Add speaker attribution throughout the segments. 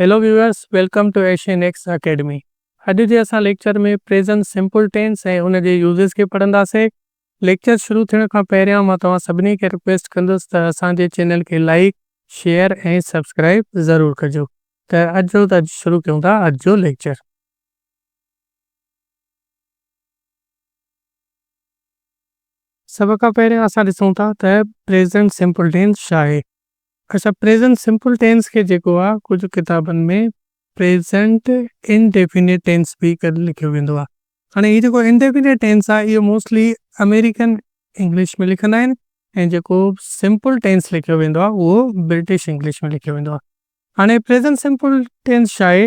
Speaker 1: Hello viewers welcome to Asian X academy اڄ جي اسان ليڪچر ۾ پريزنٽ سمپل ٽينس ۽ ان جي يوزز کي پڙهنداسين ليڪچر شروع ٿيڻ کان پهريان مان توهان سڀني کي رڪويسٽ ڪندس ته اسان جي چينل کي لائيڪ شيئر ۽ سبسڪرائيب ضرور ڪجو ته اچو ته اڄ شروع ڪيون ٿا اڄ جو ليڪچر. سڀ کان پهريان اسان ڏسون ٿا ته پريزنٽ سمپل ٽينس ڇا آهي اچا پريزنٽ سمپل ٽينس کي جيڪو آ ڪجهه ڪتابن ۾ پريزنٽ ان ڊيفينٽ ٽينس به ڪري لکيو ويندو آ. هاڻي هي جيڪو ان ڊيفينٽ ٽينس آ اهو موسٽلي امريڪن انگلش ۾ لکندا آهن ۽ جيڪو سمپل ٽينس لکيو ويندو آ اهو برٽش انگلش ۾ لکيو ويندو آ. هاڻي پريزنٽ سمپل ٽينس ڇا آهي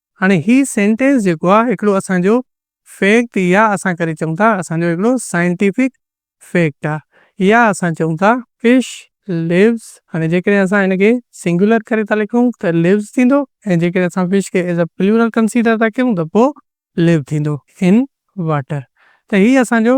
Speaker 1: هاڻي هي سينٽينس جيڪو آ هڪڙو اسان جو فيڪٽ يا اسان ڪري چئون ٿا اسان جو هڪڙو سائنٽيفڪ فيڪٽ آ يا اسان چئون ٿا فش ليوز هاڻي جيڪڏهن اسان هن کي سنگيولر ڪري ٿا لکون ته ليوز ٿيندو ۽ جيڪڏهن اسان فش کي ايز اي پليورل ڪنسيڊر ٿا ڪيون ته پو ليو ٿيندو ان واٽر ته هي اسان جو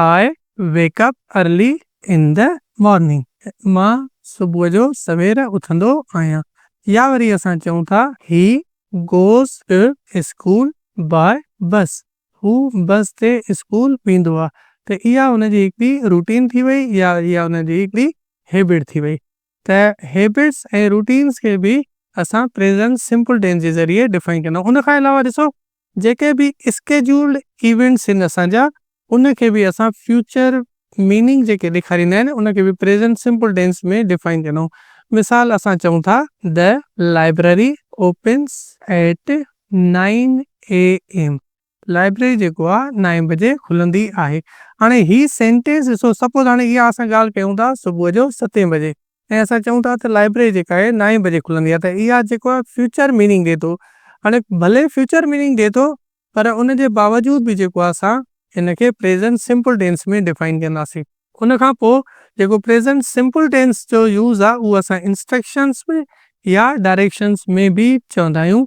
Speaker 1: I wake up early in the morning مان صبح جو سوير اٿندو آهيان يا وري اسان چئون ٿا هي goes to school by bus هو بس تي اسڪول ويندو آهي ته اها ان جي هڪڙي روٽين ٿي وئي يا وري اها ان جي هڪڙي هيبٽ ٿي وئي ته هيبٽس ۽ روٽينس کي به اسان پريزنٽ سمپل ٽينس جي ذريعي ڊفائن ڪندا آهيون ان کان علاوه ڏسو جيڪي به اسڪيجولڊ ايونٽس آهن اسان جا ان کي به اسان فيوچر ميننگ جيڪي ڏيکاريندا آهن ان کي به پريزنٽ سمپل ٽينس ۾ ڊفائن ڪندا آهيون مثال اسان چئون ٿا The Library opens at nine AM library جيڪو آهي نائين بجي کلندي آهي هاڻي هي سينٽينس ڏسو سپوز هاڻي اها اسان ڳالهه ڪيون ٿا صبح جو ستين بجي ۽ اسان چئون ٿا ته لائبرري جيڪا آهي نائين بجي کلندي آهي ته اها جيڪو آهي فيوچر ميننگ ڏي ٿو هاڻي ڀلي فيوچر ميننگ ڏي ٿو پر ان جي باوجود به جيڪو آهي اسان ان کي پريزنٽ سمپل ٽينس ۾ ڊفائن ڪنداسين. ان کان پوء جيڪو پريزنٽ سمپل ٽينس جو يوز آهي اهو اسان انسٽرڪشنس ۾ يا ڊائريڪشنس ۾ به چوندا آهيون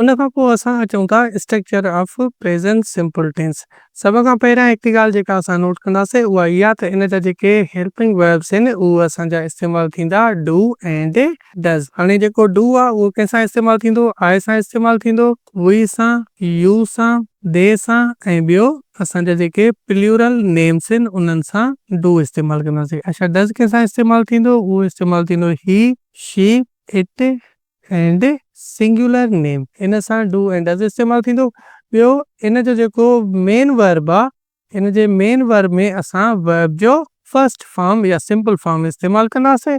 Speaker 1: ان کان پوء اسان اچون ٿا structure of present simple tense. سڀ کان پهريان هڪڙي ڳالهه جيڪا اسان نوٽ ڪنداسين اها اها ته ان جا جيڪي هيلپنگ ويربس آهن اهي اسان جا استعمال ٿيندا ڊو ۽ ڊز. هاڻي جيڪو ڊو آهي اهو ڪنهن سان استعمال ٿيندو؟ آء سان استعمال ٿيندو، وي سان، يو سان، دي سان ۽ ٻيو اسان جا جيڪي پليورل نيمس آهن انهن سان ڊو استعمال ڪنداسين. اڇا ڊز ڪنهن سان استعمال ٿيندو؟ اهو استعمال ٿيندو he, she, it, and singular name ان سان ڊو اينڊ ڊز استعمال ٿيندو. ٻيو ان جو جيڪو مين ورب آ ان جي مين ورب ۾ اسان ورب جو فرسٽ فارم يا سمپل فارم استعمال ڪنداسين.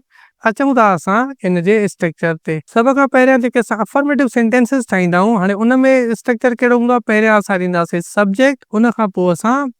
Speaker 1: اچون ٿا اسان ان جي اسٽرڪچر تي. سڀ کان پهريان جيڪي اسان افرميٽو سينٽينسز ٺاهيندا آهيون هاڻي ان ۾ اسٽرڪچر ڪهڙو هوندو آ پهريان اسان ڏينداسين سبجيڪٽ ان کان پوء اسان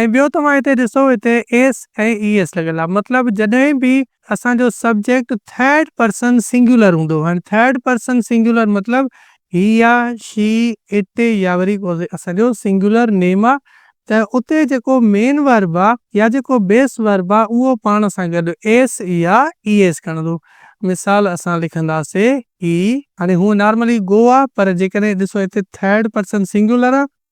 Speaker 1: ۽ ٻيو توهان هتي ڏسو هتي ايس ۽ اي ايس لڳل آهي مطلب جڏهن به اسان جو سبجيڪٽ ٿرڊ پرسن سنگيولر هوندو هاڻي ٿرڊ پرسن سنگيولر مطلب هي آ شي اٽ يا وري اسان جو سنگيولر نيم آ ته اتي جيڪو مين ورب آ يا جيڪو بيس ورب آ اهو پاڻ سان گڏ ايس يا اي ايس کڻندو مثال اسان لکنداسين هي. هاڻي هونء نارملي گو آ پر جيڪڏهن ڏسو هتي ٿرڊ پرسن سنگيولر آ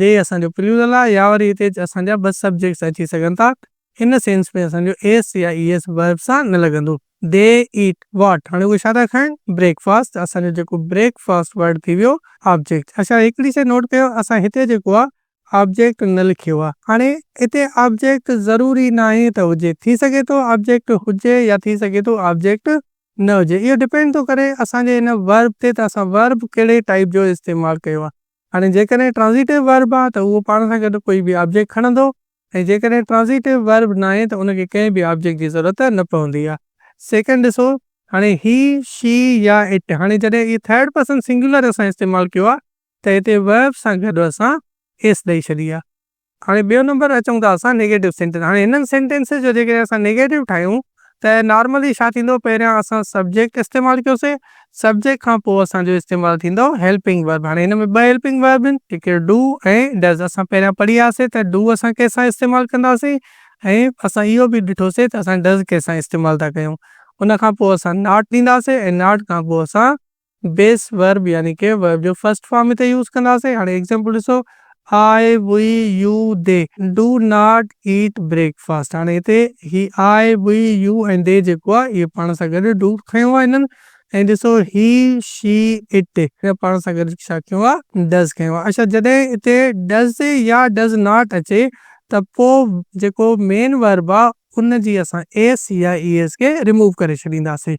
Speaker 1: جي اسان جو پليورل آهي يا وري هتي اسان جا ٻه سبجيڪٽس اچي سگهن ٿا ان سينس ۾ اسان جو ايس يا اي ايس ورب سان نه لڳندو. They eat what هاڻي اهي ڇا ٿا کائن بريڪ فاسٽ اسان جو جيڪو بريڪ فاسٽ ورڊ ٿي ويو آبجيڪٽ اڇا هڪڙي شي نوٽ ڪيو اسان هتي جيڪو آهي آبجيڪٽ نه لکيو آهي هاڻي هتي آبجيڪٽ ضروري ناهي ته هجي ٿي سگهي ٿو آبجيڪٽ هجي يا ٿي سگهي ٿو آبجيڪٽ نه هجي اهو ڊپينڊ ٿو ڪري اسان جي هن ورب تي ته اسان ورب ڪهڙي ٽائيپ جو استعمال ڪيو آهي. هاڻي جيڪڏهن ٽرانزيٽو ورب آهي ته اهو پاڻ سان گڏ ڪوئي به آبجيڪٽ کڻندو ۽ جيڪڏهن ٽرانزيٽو ورب ناهي ته ان کي ڪنهن به آبجيڪٽ جي ضرورت نه پوندي آهي. سيڪنڊ ڏسو هاڻي هي، شي يا اٽ هاڻي جڏهن اهي ٿرڊ پرسن سنگيولر اسان استعمال ڪيو آهي ته هتي ورب سان گڏ اسان اس ڏئي ڇڏي آهي. هاڻي ٻيو نمبر اچون ٿا اسان نيگيٽو سينٽينس هاڻي هنن سينٽينسز جو جيڪڏهن اسان نيگيٽو ٺاهيون ته نارملي ڇا ٿيندو پهريان اسان سبجيڪٽ استعمال ڪيوسين سبجيڪٽ کان پوء اسان جو استعمال ٿيندو هيلپنگ ورب هاڻي هن ۾ ٻه هيلپنگ ورب آهن هڪ ڊو ۽ ڊز اسان پهريان پڙهي آياسين ته ڊو اسان ڪنهن سان استعمال ڪنداسين ۽ اسان اهو به ڏٺوسين ته اسان ڊز ڪنهن سان استعمال ٿا ڪيون ان کان پوء اسان ناٽ ڏينداسين ۽ ناٽ کان پوء اسان بيس ورب يعني ڪي ورب جو فرسٽ فارم هتي يوز ڪنداسين هاڻي ايگزامپل ڏسو I we you they do not eat breakfast هاڻي هتي هي آء وي يو ۽ دي جيڪو آ اهي پاڻ سان گڏ ڊو کنيو آ هنن ۽ ڏسو هي شي اٽ هن پاڻ سان گڏ ڇا کنيو آ ڊز کنيو آ اڇا جڏهن هتي ڊز يا ڊز ناٽ اچي ته پو جيڪو مين ورب آ ان جي اسان ايس يا اي ايس کي ريموو ڪري ڇڏينداسين.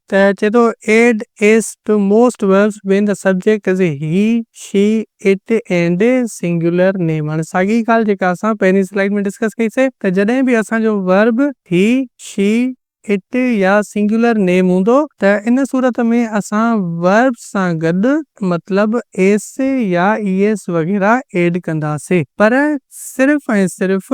Speaker 1: ته چئي ٿو add S to most verbs when the subject is he, she, it and singular name. هاڻي ساڳي ڳالهه جيڪا اسان پهرين سلائيڊ ۾ ڊسڪس ڪئي سي ته جڏهن به اسان جو ورب هي، شي، اٽ يا سنگيولر نيم هوندو ته ان صورت ۾ اسان ورب سان گڏ مطلب ايس يا اي ايس وغيره ايڊ ڪنداسي پر صرف ۽ صرف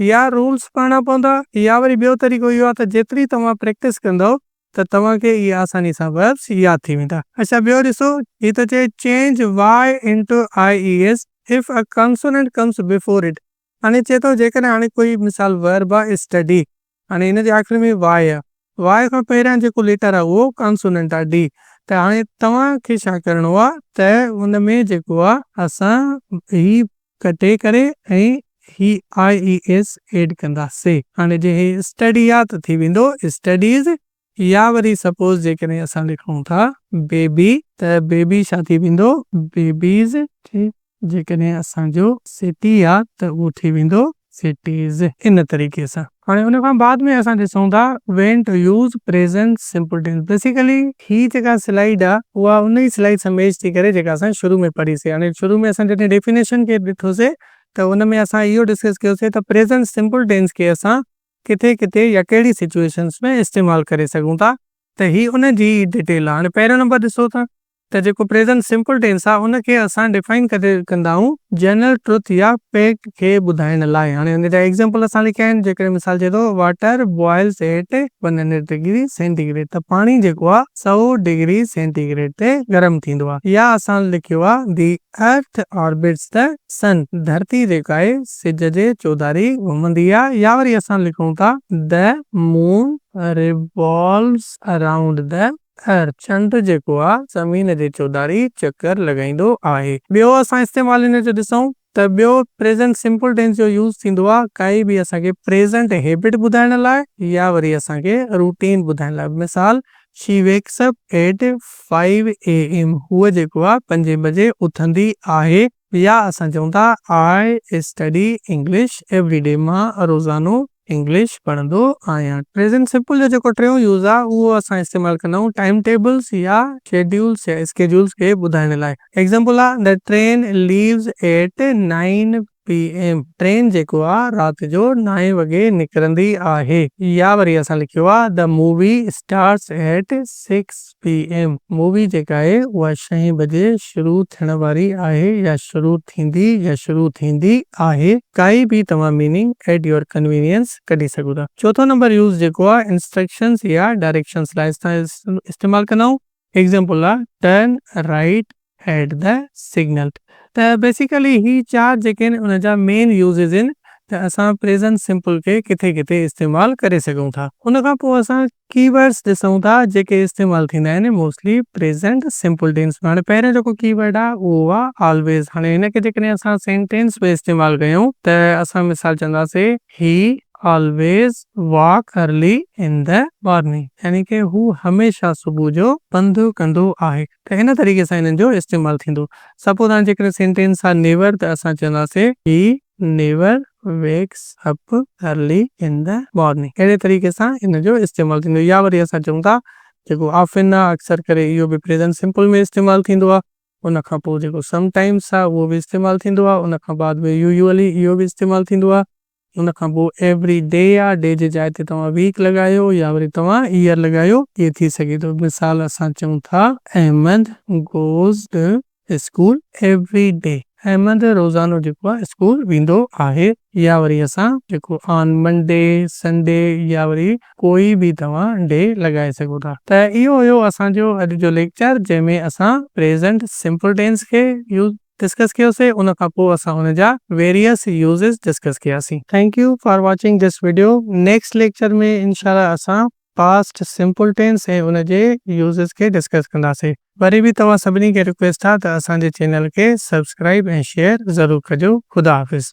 Speaker 1: يا رولز پڙهڻا پوندا يا وري ٻيو طريقو اهو آهي ته جيتري توهان پريڪٽس ڪندؤ ته توهان کي اهي آساني سان وربس ياد ٿي ويندا. اڇا ٻيو ڏسو هي ٿو چئي change Y into I E S if a consonant comes before it هاڻي چئي ٿو جيڪڏهن هاڻي ڪوئي مثال ورب آهي اسٽڊي هاڻي هن جي آخر ۾ واء آ. واء کان پهريان جيڪو ليٽر آ اهو ڪانسوننٽ آ، ڊي. ته هاڻي توهان کي ڇا ڪرڻو آ ته ان ۾ جيڪو آ اسان هي ڪٽي ڪري ۽ هي آء اي ايس ايڊ ڪنداسين. هاڻي جي هي اسٽڊي آ ته ٿي ويندو اسٽڊيز يا وري سپوز جيڪڏهن اسان لکون ٿا بيبي ته بيبي ڇا ٿي ويندو بيبيز ٺيڪ جيڪڏهن اسان جو سٽي آ ته اهو ٿي ويندو سٽيز ان طريقي سان. هاڻي ان کان بعد ۾ اسان ڏسون ٿا when to use present simple tense basically هي جيڪا سلائيڊ آ اها ان ئي سلائيڊ سان ميچ ٿي ڪري جيڪا اسان شروع ۾ پڙهي سي هاڻي شروع ۾ اسان جڏهن ڊيفينيشن کي ڏٺو سي ته ان ۾ اسان اهو ڊسڪس ڪيو سي ته پريزنٽ سمپل ٽينس کي اسان ڪٿي ڪٿي يا ڪهڙي سچوئيشنس ۾ استعمال ڪري سگهون ٿا ته هي ان جي ئي ڊٽيل آ. هاڻي پهريون نمبر ڏسو ته ته جيڪو پريزنٽ سمپل ٽينس آ ان کي اسان ڊفائن ڪٿي ڪندا آهيون جنرل ٽروٿ يا فيڪٽ کي ٻڌائڻ لاء. هاڻي ان جا ايگزامپل اسان لکيا آهن جيڪڏهن مثال چئي ٿو water boils at one hundred degree centigrade ته پاڻي جيڪو آ سؤ ڊگري سينٽي گريڊ تي گرم ٿيندو آ يا اسان لکيو آ the Earth orbits the Sun، ڌرتي جيڪا آهي سج جي چوڌاري گهمندي آهي يا وري اسان لکون ٿا The Moon revolves around the Earth، چنڊ جيڪو آهي زمين جي چوڌاري چڪر لڳائيندو آهي. ٻيو اسان استعمال هن جو ڏسون ته ٻيو Present Simple Tense جو يوز ٿيندو آهي ڪائي به اسان کي Present Habit ٻڌائڻ لاء يا وري اسان کي Routine ٻڌائڻ لاء مثال she wakes up at five A M هوء جيڪو آ پنجين بجي اٿندي آهي يا اسان چئون ٿا I study English every day مان روزانو انگلش پڙهندو آهيان پريزنٽ سمپل جو جيڪو ٽيون يوز آ اهو اسان استعمال ڪندا آهيون ٽائيم ٽيبلز يا شيڊيولز يا اسڪيڊيولز کي ٻڌائڻ لاء ايگزامپل آ The train leaves at nine P M train جيڪو آ رات جو نائين وڳي نڪرندي آهي يا وري اسان لکيو آ The Movie Starts At Six PM movie جيڪا آهي اها شئين بجي شروع ٿيڻ واري آهي يا شروع ٿيندي يا شروع ٿيندي آهي ڪائي به توهان ميننگ At Your Convenience ڪڍي سگهو ٿا چوٿون نمبر يوز جيڪو آ Instructions يا Directions لاء اسان استعمال ڪندائون. ايگزامپل آ turn right at the signal ته بيسيڪلي هي چار جيڪي آهن ان جا مين يوزز آهن ته اسان پريزنٽ سمپل کي ڪٿي ڪٿي استعمال ڪري سگهون ٿا ان کان پوء اسان ڪي ورڊس ڏسون ٿا جيڪي استعمال ٿيندا آهن موسٽلي پريزنٽ سمپل ٽينس ۾ هاڻي پهريون جيڪو ڪي ورڊ آ اهو آ آلويز هاڻي هن کي جيڪڏهن اسان سينٽينس ۾ استعمال ڪيون ته اسان مثال چونداسين he always walk early in the morning يعني ڪي هو هميشه صبح جو پنڌ ڪندو آهي ته ان طريقي سان انهن جو استعمال ٿيندو سپوز هاڻي جيڪڏهن سينٽينس آهي نيور ته اسان چونداسي he never wakes up early in the morning اهڙي طريقي سان ان جو استعمال ٿيندو يا وري اسان چئون ٿا جيڪو آفن آهي اڪثر ڪري اهو به پريزنٽ سمپل ۾ استعمال ٿيندو آهي ان کان پوء جيڪو سم ٽائيمس آهي اهو به استعمال ٿيندو آهي. ان کان بعد ۾ يوزولي اهو به استعمال ٿيندو آهي. ان کان پوء ايوري ڊي آهي. ڊي جي جاء تي توهان ويڪ لڳايو يا وري توهان ايئر لڳايو. اهو ٿي سگهي ٿو. مثال اسان چئون ٿا Ahmed goes to school every day. Ahmed روزانو جيڪو آهي اسڪول ويندو آهي. يا وري اسان جيڪو آن منڊي، سنڊي يا وري ڪوئي به توهان ڊي لڳائي سگهو ٿا. ته اهو هيو اسان جو اڄ جو ليڪچر جنهن ۾ اسان پريزنٽ سمپل ٽينس کي يوز ڊسڪس ڪيو سي ان کان پوء اسان ان جا ويريس يوزز ڊسڪس ڪيا سي. Thank you for watching this video next lecture ۾ انشاء الله اسان پاسٽ سمپل ٽينس ۽ ان جي يوزز کي ڊسڪس ڪندا سي وري به توهان سڀني کي رڪويسٽ آ ته اسان جي چينل کي سبسڪرائيب ۽ شيئر ضرور ڪجو خدا حافظ.